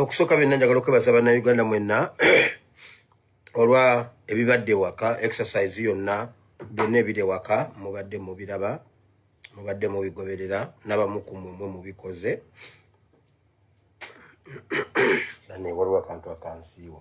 okusooka byonna njagala okwebaza bannayuganda mwenna olwa ebibadde waka exercise yonna byonna ebiri waka mubadde mubiraba mubadde mubigoberera nabamu ku mwemwe mubikoze waliwo akantu akansiiwa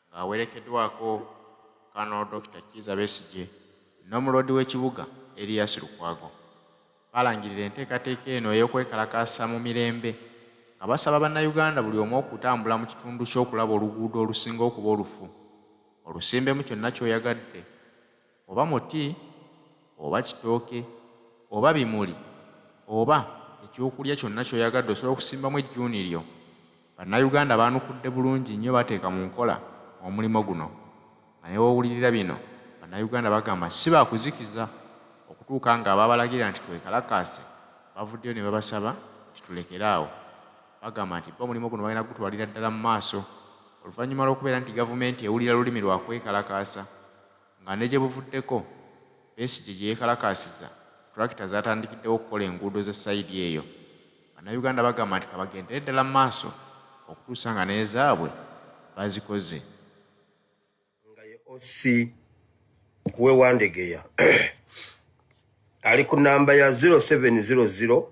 ng'awerekedwako Colonel Dokita Kiiza Besigye n'omuloodi w'ekibuga Erias Lukwago balangirira enteekateeka eno ey'okwekalakaasa mu mirembe nga basaba bannayuganda buli omu okutambula mu kitundu kye okulaba oluguudo olusinga okuba olufu olusimbemu kyonna ky'oyagadde oba muti, oba kitooke, oba bimuli, oba ekyokulya kyonna ky'oyagadde osobola okusimbamu ejjuuni lyo. Bannayuganda baanukudde bulungi nnyo bateeka mu nkola omulimu guno nga ne w'owulirira bino Bannayuganda bagamba si ba kuzikiza okutuuka ng'abaabalagira nti twekalakaase bavuddeyo ne babasaba nti tulekere awo. Bagamba nti bo omulimu guno bagenda kugutwalira ddala mu maaso oluvannyuma lw'okubeera nti gavumenti ewulira lulimi lwa kwekalakaasa. nga ne gye buvuddeko Besigye gye yeekalakaasiza tulakita zaatandikiddewo okukola enguudo z'e sayidi eyo. Bannayuganda bagamba nti ka bagendere ddala mu maaso okutuusa nga n'ezaabwe bazikoze. Nga ye OC w'e Wandegeya ali ku nnamba ya zero seven zero zero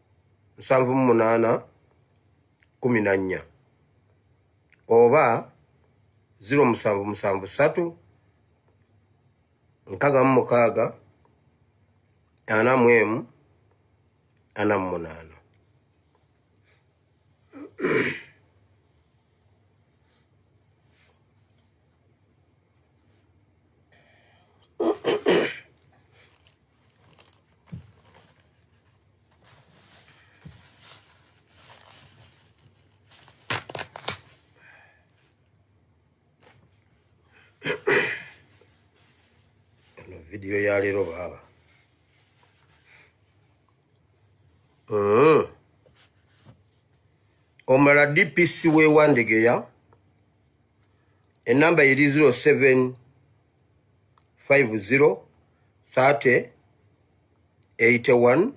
nsanvu mu munaana kumi na nnya oba ziro musanvu musanvu satu nkaaga mu mukaaga ana mu emu ana mu munaana vidiyo ya leero baaba mm. omala dpc wewandegeya enamba eri 07 50 30 81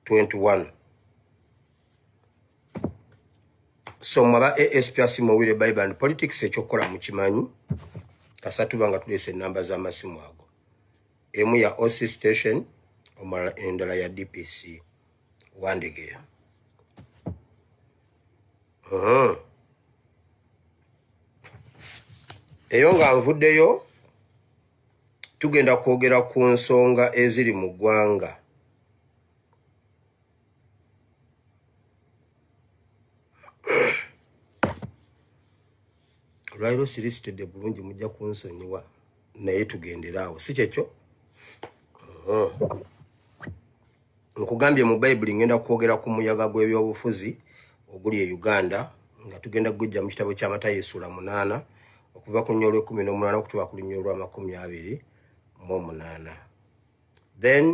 21 so mwaba asp asimu owire bible and politics ekyokukola mukimanyi kasatuba nga tulese enamba z'amasimu ago emu ya oc station omulala endala ya dpc Wandegeya. Uh-huh. Eyo nga nvuddeyo tugenda kwogera ku nsonga eziri mu ggwanga olwaliro sirisitedde bulungi mujja kunsonyiwa naye tugendere awo si kyekyo uh-huh. nkugambye mu bayibuli ngenda kwogera ku muyaga gw'ebyobufuzi oguli e uganda nga tugenda kugujja mu kitabo kya matayo essuula munaana okuva ku nnyolo ekumi n'omunaana okutuba ku lunyolo lw'amakumi abiri mu omunaana then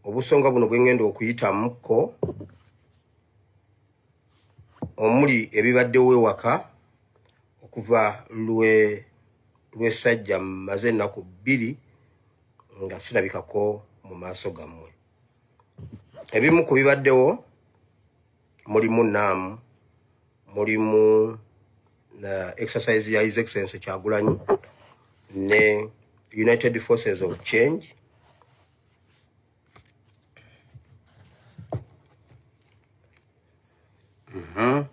obusonga buno bwengenda okuyitamuko omuli ebibaddewo ewaka okuva lwe lwesajja maze ennaku bbiri nga sirabikako mu maaso gammwe ebimu ku bibaddewo mulimu naamu mulimu uh, exercise ya his excellence kyagulanyi ne united forces of change Aha.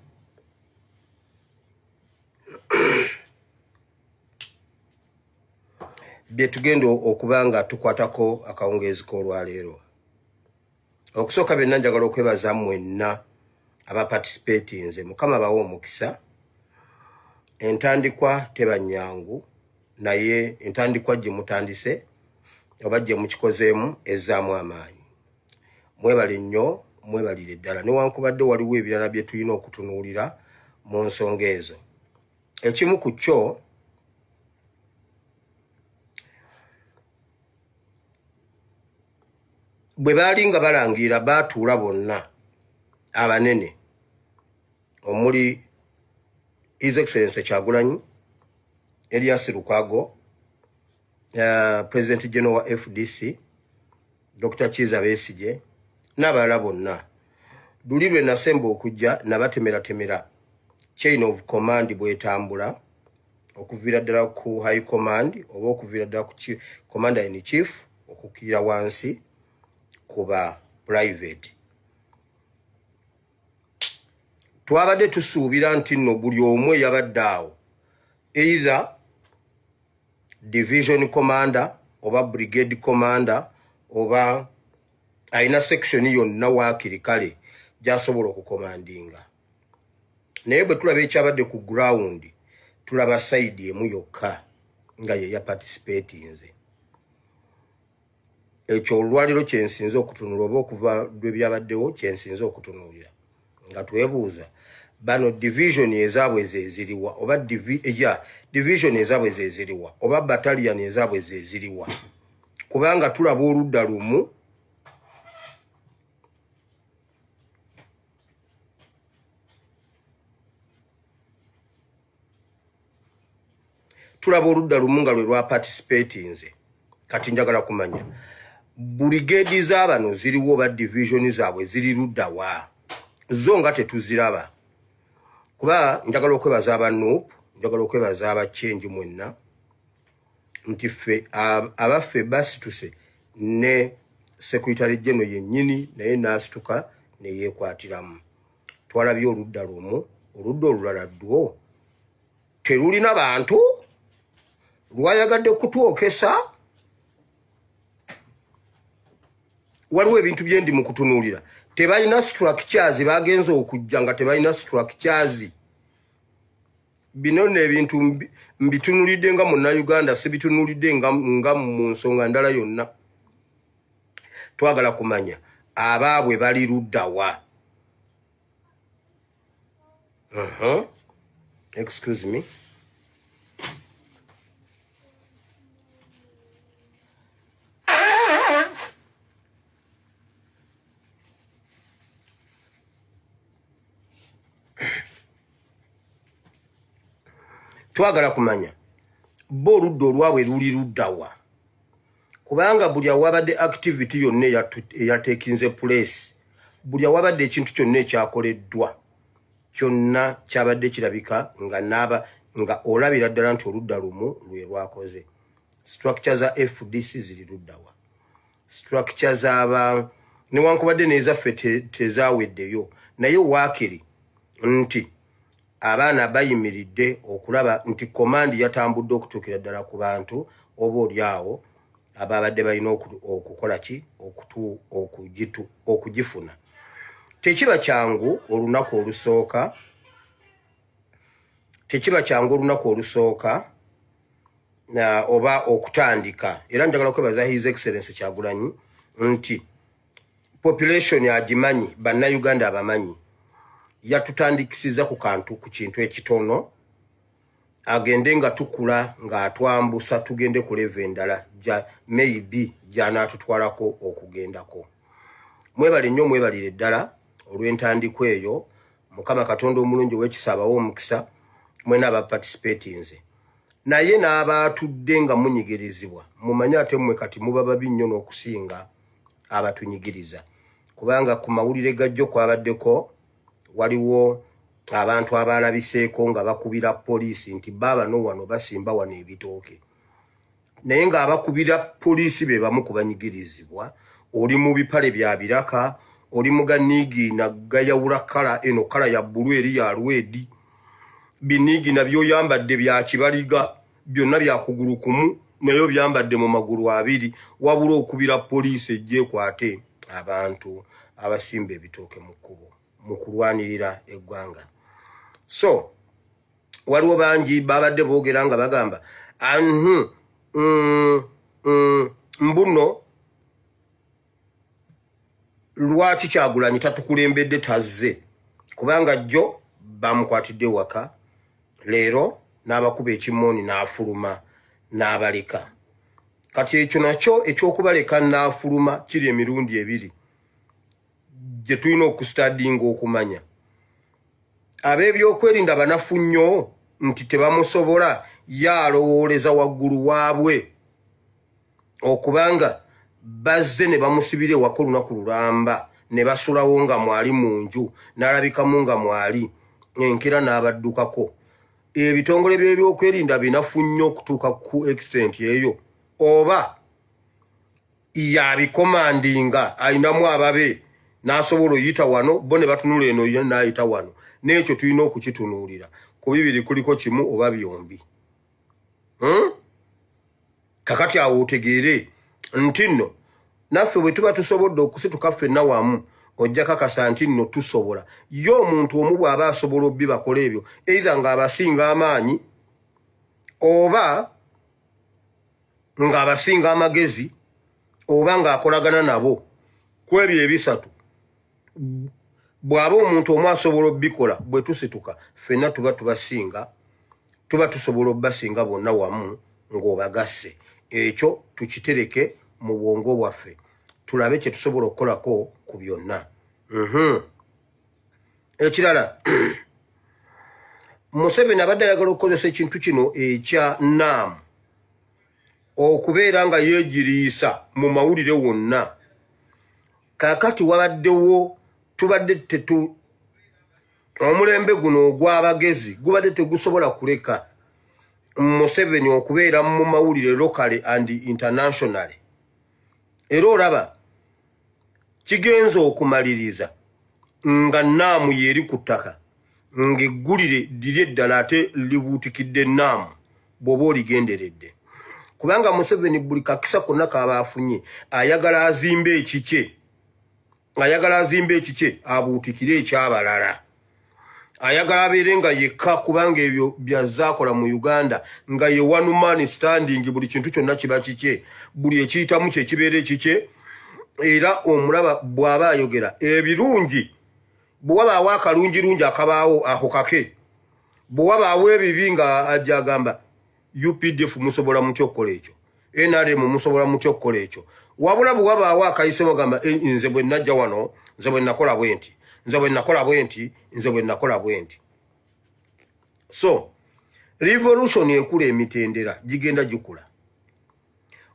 byetugenda okuba nga tukwatako akawungeezi k'olwaleero okusooka byonna njagala okwebaza mwenna abaparticipatinze mukama bawe omukisa entandikwa teba nyangu naye entandikwa gye mutandise oba gye mukikozeemu ezzaamu amaanyi mwebale nnyo mwebalire ddala newankubadde waliwo ebirala bye tulina okutunuulira mu nsonga ezo ekimu ku kyo bwe baali nga balangira baatuula bonna abanene omuli His Excellency Kyagulanyi, Elias Lukago, uh, eh, President General wa FDC, Dr. Chiza Besije, n'abalala bonna. Luli lwe nasemba okujja nabatemeratemera chain of command bwetambula okuviira ddala ku high command oba okuviira ddala ku commander in chief okukirira wansi kuba private twabadde tusuubira nti nno buli omu eyabadde awo either division commander oba brigade commander oba alina section yonna waakiri kale gyasobola okukomandinga naye bwe tulaba ekyabadde ku ground tulaba sayidi emu yokka nga ye yaparticipatinze ekyo olwaliro kyensinze okutunula oba okuva lwebyabaddewo kyensinze okutunuulira nga twebuuza bano division ezaabwe zeziriwa oba ya division ezaabwe zeziriwa oba batalian ezaabwe zeziriwa kubanga tulaba oludda lumu tulaba oludda lumu nga lwe lwa participatinze kati njagala kumanya burigedi za bano ziriwo oba divisioni zaabwe ziri ludda wa zo nga tetuziraba kuba njagala okwebaza aba nup njagala okwebaza aba change mwenna nti ffe abaffe basituse ne sekuritale geno yennyini naye naasituka neyeekwatiramu twalabye oludda lumu oludda olulala ddwo terulina bantu lwayagadde kutwokesa waliwo ebintu byendi mu kutunuulira tebalina structures bagenza okujja nga tebalina structures bino nno ebintu mbitunulidde nga munnauganda sibitunulidde nga mu nsonga ndala yonna twagala kumanya abaabwe bali luddawa uh -huh. excuse me twagala kumanya bo oludda olwabwe luli luddawa kubanga buli awabadde activity yonna eyatekinze place buli awabadde ekintu kyonna ekyakoleddwa kyonna kyabadde kirabika nga naaba nga olabira ddala nti oludda lumu lwe lwakoze structure za fdc ziri luddawa structure zaba newankubadde nezaffe tezaweddeyo naye waakiri nti abaana bayimiridde okulaba nti komandi yatambudde okutuukira ddala ku bantu oba oli awo ababadde balina okukola ki okugifuna tekiba kyangu olunaku olusooka tekiba kyangu olunaku olusooka oba okutandika era njagala kwebaza his excellence kyagulanyi nti population agimanyi bannayuganda abamanyi yatutandikisiza ku kantu ku kintu ekitono agende nga tukula ng'atwambusa tugende ku leva endala maybe gyanaatutwalako okugendako mwebale nnyo mwebalire ddala olw'entandikwa eyo mukama katonda omulungi owekisa abawo omukisa mwena abaparticipatinze naye n'abaatudde nga munyigirizibwa mumanye ate mmwe kati muba babi nnyo n'okusinga abatunyigiriza kubanga ku mawulire gajjo kwabaddeko waliwo abantu abaalabiseeko nga bakubira poliisi nti baaba no wano basimba wano ebitooke naye ng'abakubira poliisi be bamu ku banyigirizibwa oli mu bipale bya biraka oli mu ganiigi nagayawula kala eno kala ya bbulu eri ya lwedi biniigi nabyoyambadde bya kibaliga byonna byakugulu kumu naye obyambadde mu magulu abiri wabula okubira poliisi ejja ekwate abantu abasimba ebitooke mu kkubo mu kulwanirira eggwanga so waliwo bangi babadde boogera nga bagamba anhu mm, mm, mbuno lwaki kyagulanyi tatukulembedde tazze kubanga jjo bamukwatidde waka leero n'abakuba ekimooni n'afuluma n'abaleka kati ekyo nakyo ekyokubaleka n'afuluma kiri emirundi ebiri gye tulina okustadinga okumanya ab'ebyokwerinda banafu nnyo nti tebamusobola ye alowooleza waggulu waabwe okubanga bazze ne bamusibira ewaka olunaku lulamba ne basulawo nga mwali mu nju n'alabikamu nga mwali enkera n'abaddukako ebitongole by'ebyokwerinda binafu nnyo okutuuka ku extent eyo oba yabikomandinga alinamu ababe n'asobola oyita wano bo ne batunula eno n'ayita wano n'ekyo tulina okukitunuulira ku bibiri kuliko kimu oba byombi hmm? kakati awo otegeere nti nno naffe bwe tuba tusobodde okusituka ffenna wamu ojja kakasa nti nno tusobola ye omuntu omu bw'aba asobola obbi bakola ebyo eitha ng'abasinga amaanyi oba ng'abasinga amagezi oba ng'akolagana nabo ku ebyo ebisatu bw'aba omuntu omu asobola obikola bwe tusituka ffenna tuba tubasinga tuba tusobola obubasinga bonna wamu ng'obagasse ekyo tukitereke mu bwongo bwaffe tulabe kye tusobola okukolako ku byonna mhm. ekirala museveni abadde ayagala okukozesa ekintu kino ekya naamu okubeera nga yeegiriisa mu mawulire wonna kakati wabaddewo tubadde tetu omulembe guno ogw'abagezi gubadde tegusobola kuleka museveni okubeera mu mawulire locally and internationally era olaba kigenze okumaliriza nga naamu yeeri ku ttaka ng'eggulire liri eddala ate libuutikidde naamu bwoba oligenderedde kubanga museveni buli kakisa konna kaba afunye ayagala azimbe ekikye ayagala azimbe ekikye abuutikire ekyabalala ayagala abeere nga yekka kubanga ebyo byazaakola mu uganda nga ye one man standing buli kintu kyonna kiba kikye buli ekiyitamu kyekibeera ekikye era omulaba bw'aba ayogera ebirungi bwe wabaawo akalungirungi akabaawo ako kake bwe wabaawo ebibi nga ajja agamba updf musobola mutya okukola ekyo nrm musobola mutya okukola ekyo wabula bwe wabaawo akayise wagamba eh, nze bwe najja wano nze bwe nakola bwe nti nze bwe nakola bwe nti nze bwe nakola bwe nti so revolution ekula emitendera gigenda gikula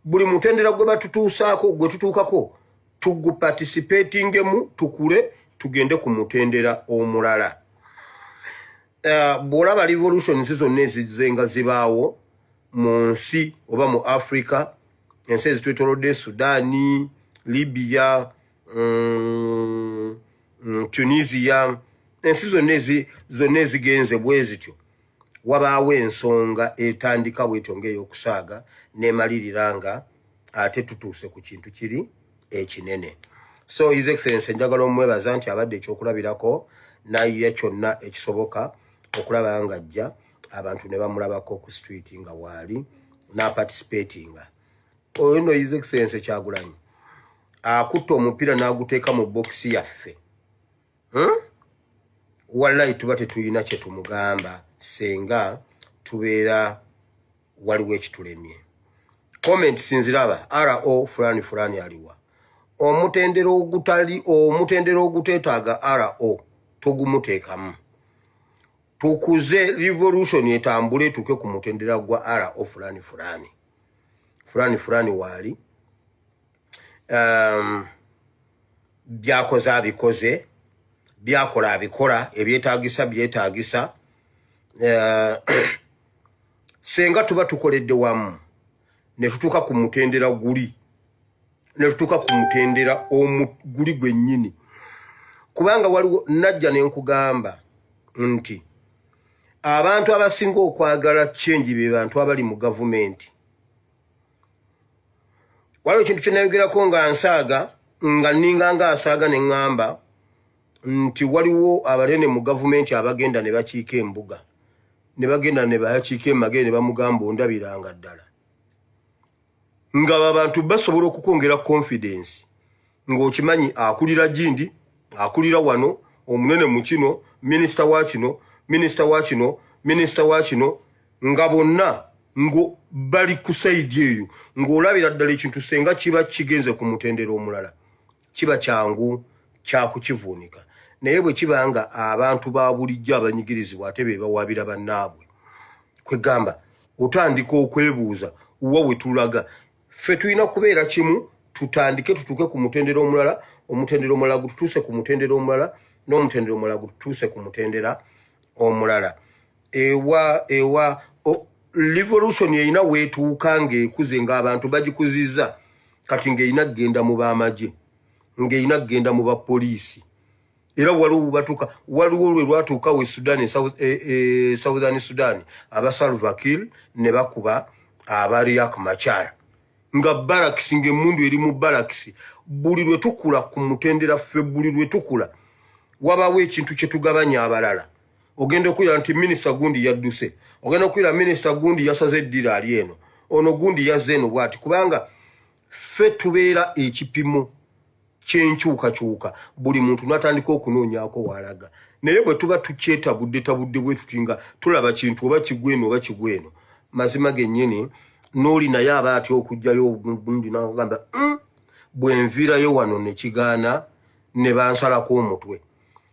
buli mutendera gwe batutuusaako gwe tutuukako tugupatisipetingemu tukule tugende ku mutendera omulala eh, bw'olaba revolutions zonna ezizze nga zibaawo mu nsi oba mu africa ensi ezitwetolodde sudaani libya mm, mm, tunisia ensi zonna ezigenze bwe zityo wabaawo ensonga etandika bwetyo ngaeyokusaaga nemalirira nga ate tutuuse ku kintu kiri ekinene so his excellence njagala omwebaza nti abadde ekyokulabirako naye kyonna ekisoboka okulaba nga ajja abantu ne bamulabako ku street nga waali naparticipatinga oyo no his excellence kyagulanyi akutte omupiira n'aguteeka mu bokisi yaffe hmm? wallahi tuba tetulina kyetumugamba senga tubeera waliwo ekitulemye comment sinziraba ro fulani fulani aliwa omutendera ogutali omutendera ogutetaaga ro togumuteekamu tukuze revolution etambule etuuke ku mutendera gwa ro fulani fulani fulani fulani waali um, byakoze abikoze byakola abikola ebyetagisa byetagisa uh, senga tuba tukoledde wamu netutuuka ku mutendera guli netutuuka ku mutendera guli gwennyini kubanga waliwo najja nenkugamba nti abantu abasinga okwagala change be bantu abali mu gavumenti waliwo ekintu kyenayogerako nga nsaaga nga ninga nga asaaga ne ŋŋamba nti waliwo abalene mu gavumenti abagenda ne bakiika embuga ne bagenda ne bayakiika emagere ne bamugamba ondabiranga ddala nga babantu basobola okukwongera confidence ng'okimanyi akulira gindi akulira wano omunene mu kino minisita wa kino minisita wa kino minisita wa kino nga bonna ngo bali ku saidi eyo ng'olabira ddala ekintu senga kiba kigenze ku mutendera omulala kiba kyangu kyakukivuunika naye bwe kiba nga abantu ba bulijjo abanyigirizibwa ate be bawaabira bannaabwe kwegamba otandika okwebuuza wa wetulaga ffe tulina kubeera kimu tutandike tutuuke ku mutendera omulala omutendera omulala gututuuse ku mutendera omulala n'omutendera omulala gututuuse ku mutendera omulala ewa ewa revolution erina weetuuka ng'ekuze ng'abantu bagikuziza kati ng'erina kugenda mu b'amagye ng'erina kugenda mu bapoliisi era waliwo bubatuuka waliwo lwe lwatuukawo e sudan e, e, e southern sudan aba salvakil ne bakuba aba riak machar nga barakisi ngaemundu eri mu barakisi buli lwe tukula ku mutendera ffe buli lwe tukula wabawo ekintu kye tugabanya abalala ogenda okuwulira nti minisita gundi yadduse ogenda okuwulira minisita gundi yasaze eddira ali eno ono gundi yazze eno bwati kubanga ffe tubeera ekipimo kyenkyukakyuka buli muntu natandika okunoonyaako waalaga naye bwe tuba tukyetabudde tabudde bwe tuti nga tulaba kintu oba kigweno oba kigweno mazima gennyini n'oli naye aba atya okugjayo ogundi nagamba mm, bwe nviirayo wano ne kigaana ne bansalako omutwe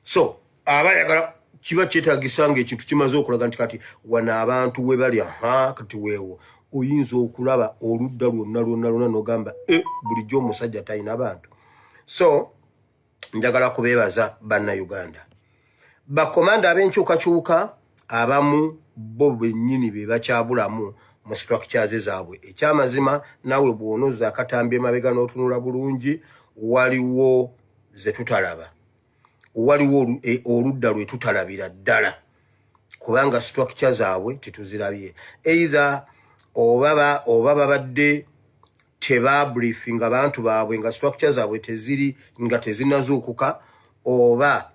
so aba yagala kiba kyetagisa nga ekintu kimaze okulaga nti kati wano abantu we bali aha kati weewo oyinza okulaba oludda lwonna lwonna lwonna nogamba e eh, bulijjo omusajja talina bantu so njagala kubeebaza banna uganda bakomanda ab'enkyukakyuka abamu bo bennyini be bakyabulamu mu structures zaabwe ekyamazima naawe bw'onoza akatambi emabega n'otunula bulungi waliwo ze tutalaba waliwo e, oludda lwe tutalabira ddala kubanga structure zaabwe tetuzirabye eitha oba babadde tebabriefinga bantu baabwe nga structure zaabwe teziri nga tezinazuukuka oba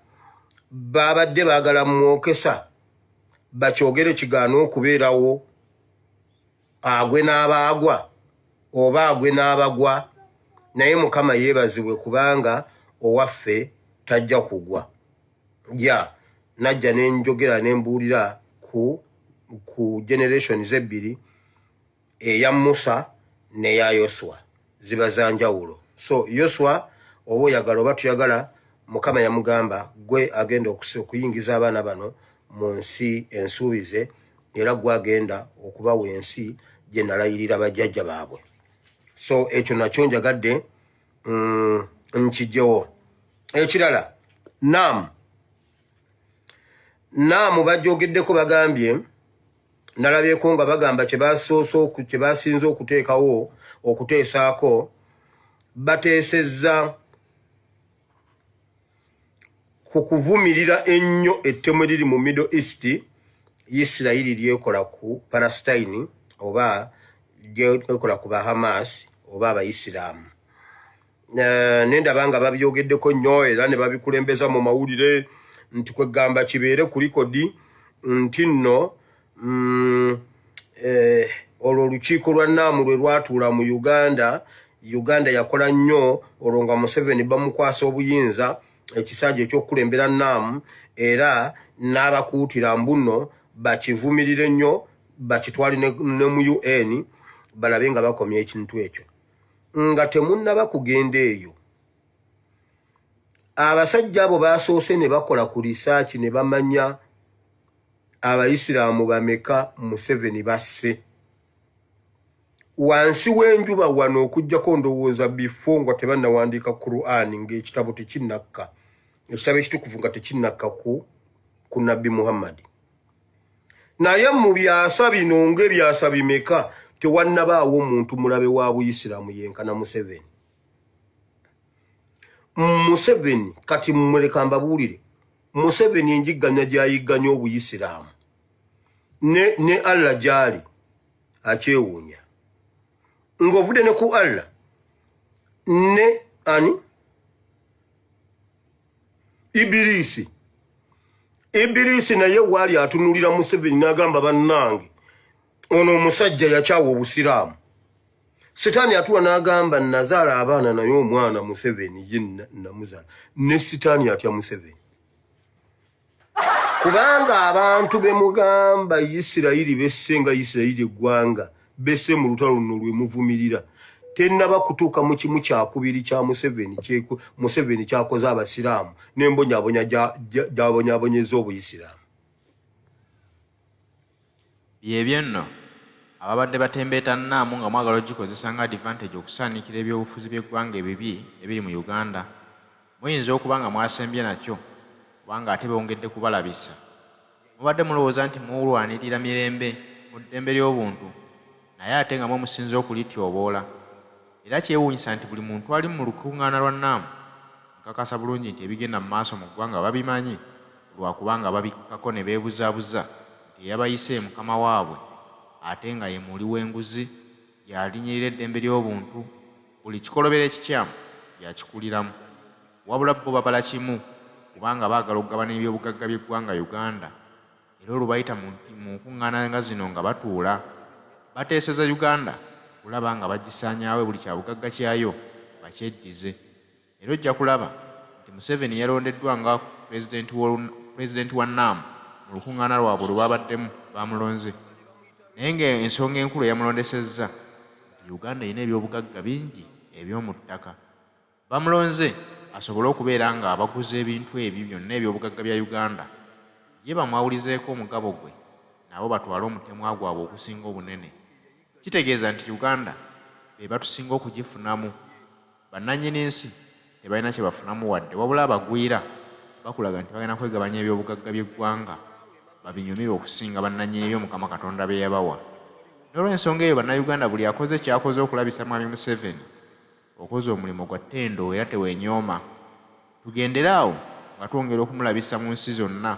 babadde baagala mwokesa bakyogere kigaana okubeerawo agwe n'abaagwa oba agwe n'abagwa naye mukama yeebazibwe kubanga owaffe tajja kugwa ja najja ne njogera ne mbuulira ku ku generations ebbiri eya musa neya yoswa ziba za njawulo so yoswa oba oyagala oba tuyagala mukama yamugamba gwe agenda okuyingiza abaana bano mu nsi ensuubize era gwe agenda okubawa ensi gye nalayirira bajjajja baabwe so ekyo nakyo njagadde mm, nkijjewo ekirala naamu naamu bajogeddeko bagambye nalabyeko nga bagamba kyebasoose kyebasinze okuteekawo okuteesaako bateesezza ku kuvumirira ennyo ettemu eriri mu middle east isirayiri lyekola ku palastine oba lyekola ku bahamas oba abaisiraamu eh, nendaba nga babyogeddeko nnyo era ne babikulembeza mu mawulire nti kwegamba kibeere ku likodi nti nno mm, eh, olwo olukiiko lwa naamu lwe lwatuula mu uganda uganda yakola nnyo olwo nga museveni bamukwasa obuyinza ekisanja ekyokukulembera naamu era n'abakuutira mbuno bakivumirire nnyo bakitwale ne mu un balabe nga bakomya ekintu ekyo nga temunnaba kugenda eyo abasajja abo baasoose ne bakola ku risaaki ne bamanya abayisiraamu bameka museveni basse wansi w'enjuba wano okugyako ndowooza bifo nga tebannawandiika quran ng'ekitabo tekinnakka ekitabo ekitukuvu nga tekinnakka ku ku nabbi muhammadi naye mu byasa bino ng'ebyasa bimeka tewannabaawo omuntu mulabe wa buyisiraamu yenkana museveni museveni kati mumuleka mbabuulire museveni enjigganya gyayigganya obuyisiraamu ne, ne allah gyali akyewuunya ng'ovudde ne ku allah ne ani Ibirisi Ibirisi naye waali atunulira Museveni n'agamba bannange ono omusajja yakyawa obusiraamu sitaani atuwa n'agamba nazaala abaana naye omwana Museveni ye namuzala ne sitaani atya Museveni kubanga abantu bemugamba isirayiri besse nga isirayiri eggwanga besse mu lutalo luno lwe muvumirira tennaba kutuuka mu kimu kyakubiri kya museveni museveni kyakoze abasiraamu n'embonyabonya gyabonyabonyeza obuyisiraamu Byebyo nno, ababadde batembeeta NAM nga mwagala ogikozesa nga advantage okusaanikira ebyobufuzi by'eggwanga ebibi ebiri mu Uganda, muyinza okuba nga mwasembye nakyo kubanga ate bongedde kubalabisa. Mubadde mulowooza nti mulwanirira mirembe mu ddembe ly'obuntu naye ate nga mwe musinze okulityoboola. Era kyewuunyisa nti buli muntu ali mu lukungaana lwa NAM nkakasa bulungi nti ebigenda mu maaso mu ggwanga babimanyi lwa kubanga babikkako ne beebuzabuza nti eyabayise ye mukama waabwe ate nga ye muuli w'enguzi y'alinyirira eddembe ly'obuntu buli kikolobero ekikyamu y'akikuliramu wabula bo babala kimu kubanga baagala okugabana ebyobugagga by'eggwanga Uganda era olubayita mu nkuŋŋaana nga zino nga batuula, bateeseza Uganda kulaba nga bagisaanyaawo buli kyabugagga kyayo bakyeddize era ojja kulaba nti Museveni yalondeddwa nga Pulezidenti wa NAM mu lukuŋŋaana lwabwe lwe babaddemu baamulonze naye ng'ensonga enkulu eyamulondesezza nti Uganda erina ebyobugagga bingi eby'omu ttaka. Bamulonze asobole okubeera nga abaguza ebintu ebyo byonna eby'obugagga bya Uganda, ye bamwawulizeeko omugabo gwe nabo batwale omutemwa gwabwe ogusinga obunene. Kitegeeza nti Uganda be batusinga okugifunamu. Bannannyini nsi tebalina kye bafunamu wadde wabula abagwira bakulaga nti bagenda kwegabanya eby'obugagga by'eggwanga babinyumirwe okusinga bannannyini byo Mukama Katonda bye yabawa. N'olw'ensonga eyo Bannayuganda buli akoze ky'akoze okulabisa Mwami Museveni, Okoze omulimu gwa ttendo era tewenyooma. Tugendere awo nga twongera okumulabisa mu nsi zonna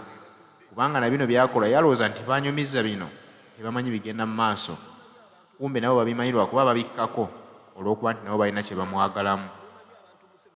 kubanga na bino byakola yalowooza nti banyumiza bino tebamanyi bigenda mu maaso kumbe nabo babimanyi lwakuba babikkako olwokuba nti nabo balina kyebamwagalamu.